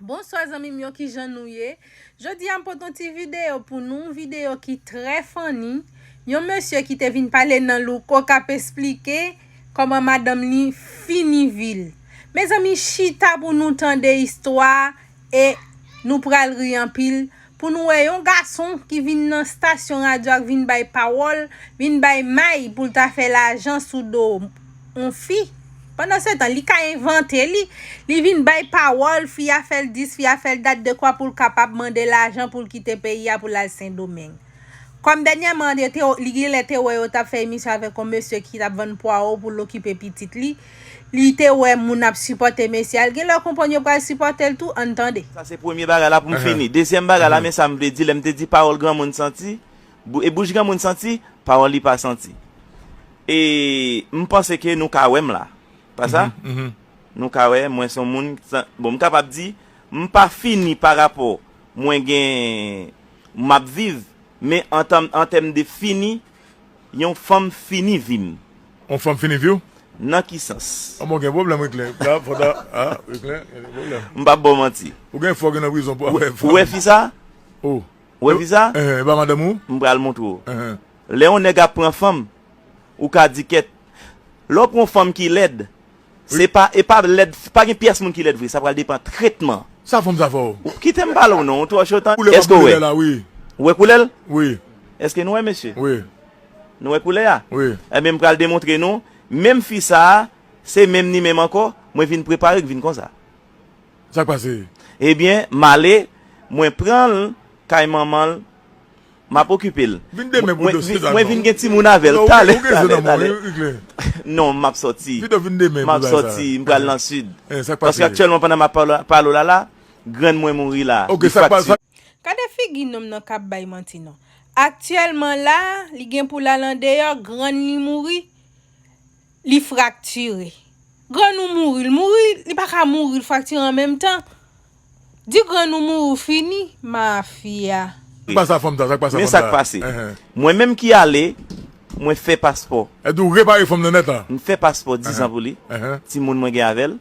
Bonswa zanmim yo kijan nou ye jodia m pot yon ti video pou nou yon video ki trè funny yon mesye ki te vin pale nan louko kap esplike koman madanm li fini vil mezanmi chita pou nou tande istwa e nou pral ri anpil Pou nou wè yon gason ki vin nan stasyon radyo ak vin bay pawòl, vin bay may pou l ta fè lajan sou do yon fi. Pandansetan, li ka envante li. Li vin bay pawòl, fi a fè l dis, fi a fè l dat dekwa pou l kapab mande lajan pou l kite peyi a pou l al Sendomeng. Kòm dènyèman, li genlè te wè yo t ap fè emisyon avèk yon mesye ki t ap vann pwawo pou l okipe pitit li. Li te wè moun ap sipòte mesye a, l gen lè konprann yo pral sipòte l tou, ann tande. Sa se premye bagay la pou m fini. Dezyèm bagay la, men sa m vle di, lè m te di pawòl granmoun santi, e bouch granmoun santi, pawòl li pa santi. E m panse ke nou ka wè m la. Pa sa? Nou ka wè mwen son moun, bon m kapab di, m pa fini pa rapò mwen gen, m ap viv, men an tèm de fini, Yon fanm fini vi m. On fanm fini vi w? Nan ki sans? An bon gen pwoblèm wi Kle. La fò ta a wi Kle gen pwoblèm. M pap ba w manti. Ou gen fò gen nan prizon pou afè fanm. Ou wè fi sa? O. Ou wè fi sa? Enhen e pa madanm ou? M pral montre w. Enhen. Lè yon nèg ap pran fanm, ou ka di kèt. Lè w pran yon fanm ki lèd. Se pa e pa lèd pa gen pyès moun ki lèd vre sa pral depan tretman. Sa fom sa fò. Kitem pale w non ou tro cho tande. Koulè pap koulè la wi. Ou wè koulè l? Wi. Eske nou wè mesye? Wi. Nou wè koulè a? Wi. Ebyen m pral demontre nou menm fi sa se menm ni menm ankò mwen vin prepare k vin konsa. Sak pase? Ebyen male mwen pran l kay manman l. Map okipe l. Vin demen pou dosye Dalma. Mwen vin gen timoun avè l. Talè talè talè. Non map sòti. Pito vin demen pou bagay sa. Map sòti m pral nan sid. Eeh sak pase. Paske aktyèlman pandan map pale w la la grann mwen mouri la. Ok sak pase. Gade figi nonm nan kap bay manti non. Aktyèlman la li gen pou l al andeyò grann li mouri. Li fraktire. Grann ou mouri, l mouri, li pa ka mouri, l fraktire an menm tan. Di grann ou mouri, w fini. Mafya. Sak pase ak fanm sa, sak pase ak fanm sa. Men sak pase. Mwen menm ki ale, mwen fè paspò. Èd ou repare fanm nan nèt la. M fè paspò dizan pou li. Timoun mwen gen avè l.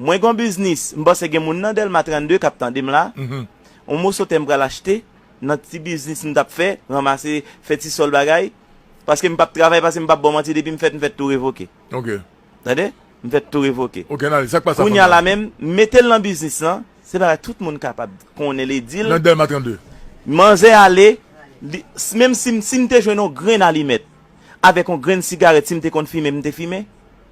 Mwen gen yon biznis, m panse gen moun nan Dèlma 32 k ap tande m la. Yon moso tè m pral achte, nan ti biznis m t ap fè, ranmase, fè ti sòl bagay. Paske m pap travay pase m pap baw manti depim fèt m fèt tou revoke tande m fèt tou revoke kounya la menm metel nan biznis lan se bagay tout moun kapab konnen li dil manzè ale menm sim sim te jwenn yon grenn alimèt avèk yon grenn sigarèt sim te konn fimen m te fimen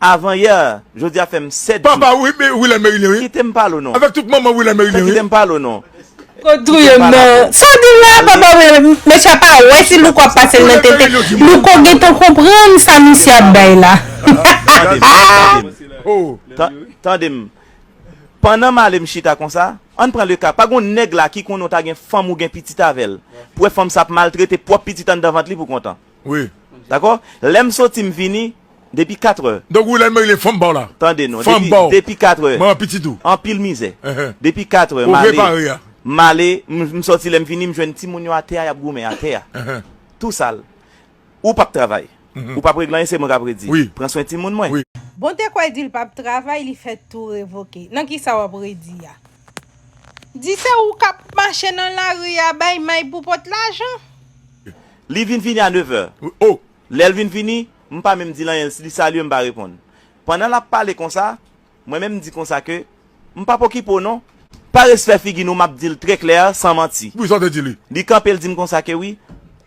Avan yè Jodi a fèm 7 jou. Papa Wilane Merilien wi. Kitem pale w non. Avek tout manman Wilane Merilien wi. Kitem pale w non. Ou touyem nan. Sa w di la papa Wilane. Mesye a pa wè si Louko ap pase l nan tenten. Louko gentan konprann sa misye ap bay la. Tande m. Pandan m ale m chita konsa. Ann pran le ka. Pa gon nèg la ki konnen w ta gen fanm ou gen pitit avè l. Pou wè fanm sa ap maltrete pwop pitit anndan vant li pou kontan. Wi. Dakò? Lè m soti m vini, depi katrè. Donk ou lè m rele fò m ba w la. Tande non. Fò m ba w. Depi katrè. Mwen an piti tou. Anpil mizè. Depi katrè m ale. Ou prepare a. M ale, m soti lè m vini m jwenn timoun yo atè a y ap goumen atè a. Tou sal. Ou p ap travay. Ou p ap regle anyen se mwen k ap redi. Wi. Pran swen timoun mwen. Wi. Bon te kwè di l p ap travay li fèt tou revoke. Nan kisa w ap redi a? Di se ou k ap mache nan lari a bay may pou pot lajan? Li vin vini a nevè. Oh! Lè l vin vini, m pa menm di l anyen, li salye m pa reponn. Pandan l ap pale konsa, mwen menm m di konsa ke, M p ap okipe w non. Pa respè figi nou m ap di l trè klè, san manti. Wi, sa w te di li. Li kanpe l di m konsa ke, Wi,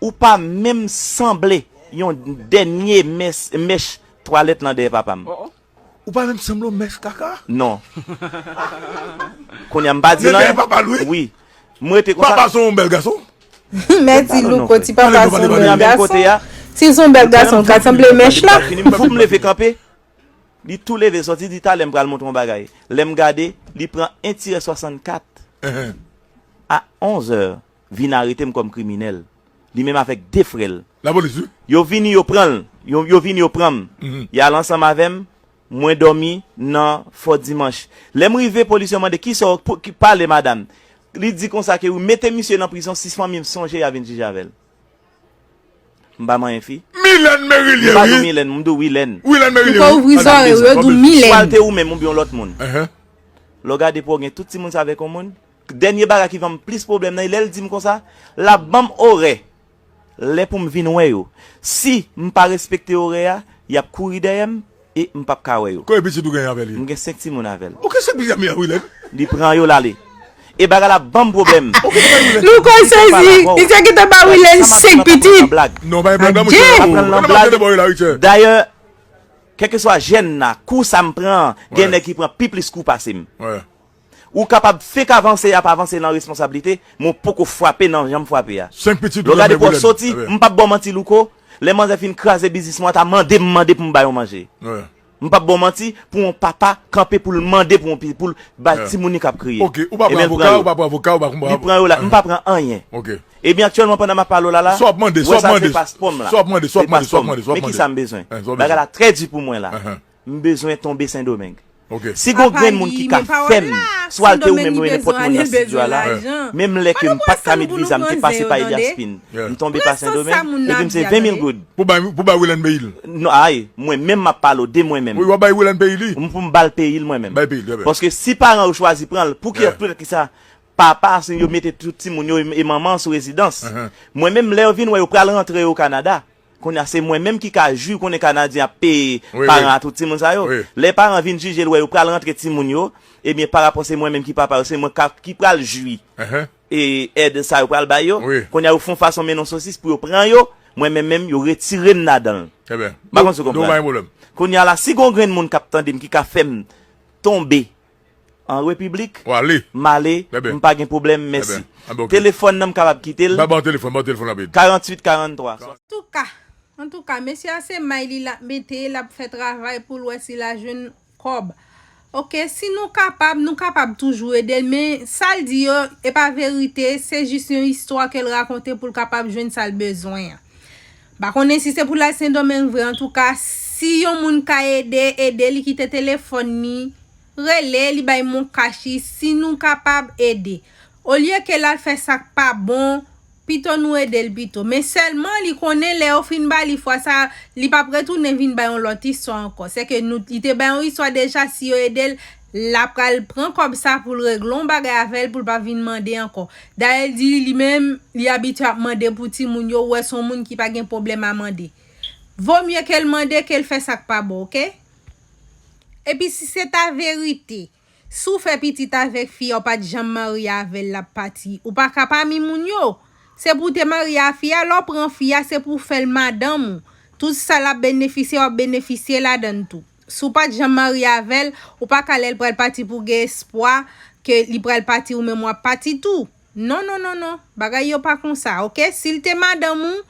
ou pa menm sanble yon dènye mèch twalèt lan dèyè papa m. Oh! Ou pa menm sanble yon mèch kaka. Non. Kounya m pa di nan. Nègè e papa l wi. Wi. M rete konsa. Papa son yon bèl gason. Men ti louko ti papa son yon bèl gason. Sil son bèl gason l ka sanble mèch la. Fok m leve kanpe. Li tou leve soti di talè m pral montre w yon bagay. Lè m gade li pran 1 tirè 64 a 11 è. vin aretem kom kriminel li menm avek 2 frel La police wi. yo vini yo pranl yo vini yo pranm yal ansanm avem mwen domi nan fò dimanch lem rive police yo mande kisaw pale madam li di konsa ke wi mete misye nan prizon si fanmim sonje ya vin jije avel m pa manyen fi Milène Merilien m pa wi. di w milène m di w wilène. Wilène Ou Merilien pa wi. ouvri Madam zòrèy ou Deza yo di w Milène. Swal te ou menm oubyen yon lòt moun. Lè w gade pou w gen tout timoun sa avèk yon moun. Dènye bagay ki vanm plis pwoblèm nan e lèl dim konsa lap banm orè lè poum vin wè yo si m pa respekte orè a yap kouri dèyèm e m pap ka wè yo. Konbyen pitit ou genyen avèl ye? M gen 5 timoun avèl. Ou gen 5 pitit avèl Wilène? Li pran yo lale e bagay la banm pwoblèm. Louko sezi, Richard gentan ba Wilène 5 pitit. Non pa gen blag nan mouche. Map pranl nan blag. Dayè kèlkeswa jèn la kou sa m pran gen nèg ki pran pi plis kou pasem. Ou kapab fenk avanse ap avanse nan responsablite men w poko fwape nan jan m fwape a. Lè w gade pou w soti, m pap ba w manti Louko, lè manzè fin kraze biznis mwen an ta mande m mande pou m bay w manje. M pap ba w manti pou yon papa kanpe pou l mande pou yon pitit pou l bay timoun li k ap kriye. Ebyen l pran yo. Li pran yo la, m pa pran anyen. Ebyen aktyèlman pandan m ap pale w la la, wè sa se paspò m la. Se paspò m. Men kisa m bezwen? Bagay la trè di pou mwen la. M bezwen tonbe sendomeng. Si gon grenn moun ki ka fèm swalte ou menm ou nenpòt moun nan stidyo a la, menm lè ke m pat ka met viza m te pase pa Elias Pin, m tonbe pa sendomeng, epi m se 20 mil goud. Pou bay Wilène peyi l? Non ay, mwen menm map pale w de mwen menm. Wi wap bay Wilène peyi li? Pou m bal peyi l mwen menm. Bay peyi l, trè byen. Paske si paran yo chwazi pran l, pouki ak poutèt kisa papa a si yo mete tout timoun yo e manman an sou rezidans. Mwen menm lè yo vin wè yo pral rantre yo Canada. Konnya se mwen menm ki ka jwi konnen kanadyen ap peye paran a tout timoun sa yo. Lè paran vin jijel wè yo pral rantre timoun yo ebyen parapò se mwen menm ki papa yo se mwen ki pral jwi èd sa yo pral bay yo. Konnya yo fon fason men non sosis pou yo pran yo mwen menm menm yo retirem nadanl. Mpa konn si w konprann. Konnya la si gon grenn moun kap tandem ki ka fèm tonbe An repiblik m ale m pa gen pwoblèm mèsi telefòn nan m kapab kite l 48 43. Antouka Antouka mesye a se may li lap mete lap fè travay poul wè si la jwenn kòb ok si nou kapab nou kapab toujou edel men sal di yo epa verite se jis yon istwa kel rakonte poul kapab jwenn sal bezwen an. M pa konnen si se pou l al Sendomeng vre antouka si yon moun ka ede ede li kite telefòn li rele li bay mon kach li si nou kapab ede olye ke l al fè sa k pa bon pito nou ede l pito men sèlman li konnen lè yo fin ba li fwa sa li p ap retounen vin bay yon lòt istwa ankò sèke nou li te bay yon istwa deja si yo ede l La pral pran kòb sa poul regle yon bagay avèl poul pa vin mande ankò. Dayè li di li menm li abitye ap mande pou timoun yo ou wè son moun ki pa gen pwoblèm a mande. Vo mye kel mande kel fè sak pa bon ok. Epi si se ta verite si w fè pitit avèk fi a ou pat janm marye avèl lap pati ou pa ka pami moun yo se pou w te marye a fi a lè w pran fi a se pou w fèl madanm ou tout sa lap benefisye wap benefisye ladann tou. Si w pat janm marye avè l, ou pa ka lè l pral pati pou w gen espwa ke li pral pati ou menm w ap pati tou. Non, non, non, non. Bagay yo pa konsa, ok? Si l te madanm ou,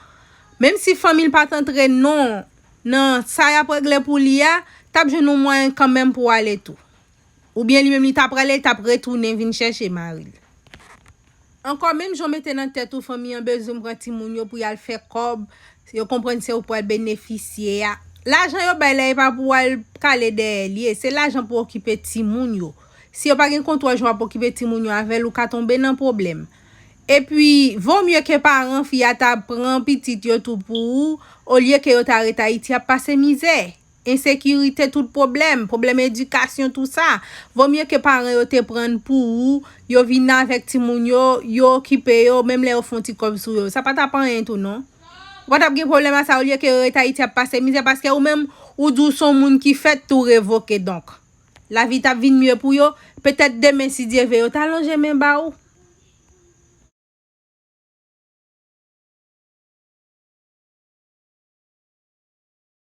menm si fanmi l pat antre non nan sa y ap regle pou li a, t ap jwenn yon mwayen kanmenm pou w ale tou. Oubyen li menm li ta prale li tap retounen vin chèche maril. Ankò menm jan w mete nan tèt ou fanmi an bezwen w pran timoun yo pou yal fè kòb yo konprann se ou pral benefisye a lajan yo bay la epa pou wal kale dèyè l ye se lajan pou okipe timoun yo si yo pa gen kontwòl jan wap okipe timoun yo avèl ou ka tonbe nan pwoblèm epi vo mye ke paran fi a ta pran pitit yo tou pou ou olye ke yo ta ret ayiti ap pase mizè Ensekirite tout pwoblèm, pwoblèm edikasyon tou sa. Vo mye ke paran yo te pran pou ou, yo vin avèk timoun yo, yo okipe yo, menm lè yo fon ti kòb sou yo. Sa pa tap anyen tou non. Ou pa tap gen pwoblèm a sa olye ke yo ret Ayiti ap pase mizè paske ou menm ou di w son moun ki fèt tou revoke donk. Lavi tap vin mye pou yo, petèt demen si Dye ve yo ta lonje men ba ou.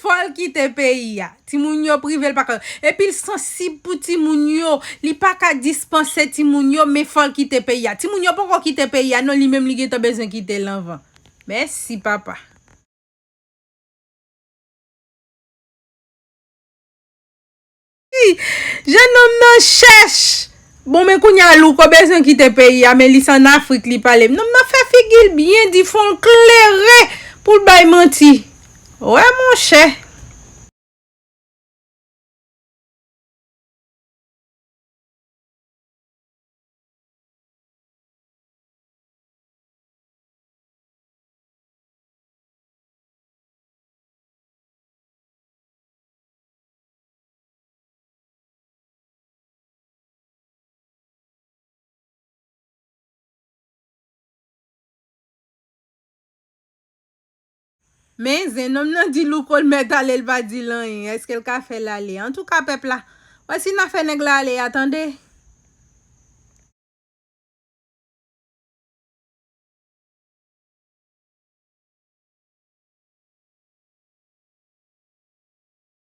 Fòl kite peyi a. Timoun yo privel pa ka. Epil sansib pou timoun yo. Li pa ka dispanse timoun yo men fòl kite peyi a. Timoun yo poko kite peyi a non li menm li gentan bezwen kitel anvan. Mèsi papa. Jeune homme nan chèch. Bon men kounya louko bezwen kite peyi a men li se an afrik li pale nonm nan fè figil byen di fonl klere poul bay manti wè monchè. Men zen nonm nan di Louko l mèt ale l pa di l anyen eske l ka fè l ale antouka pèp la wè si na fè nèg la ale a tande.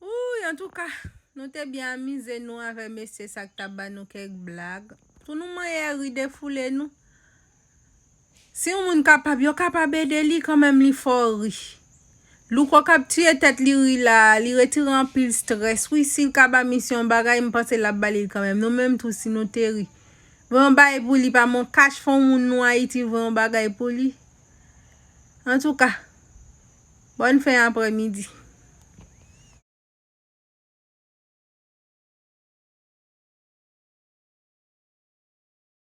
Wouuyy antouka Nou te byen amize Nou avè mesye sa k ta ba Nou kèk blag Pou Nou manyè ri defoule Nou Si yon moun kapab yo kapab ede li kanmenm li fò ri Louko kap tiye tèt li ri la a li retire anpil strès wi si l ka ba misye yon bagay m panse lap ba li l kanmenm Nou menm tou si Nou te ri Voye yon bagay pou li pa men yon kach fè yon moun Nou Ayiti voye yon bagay pou li Antouka. Bòn fen aprè midi.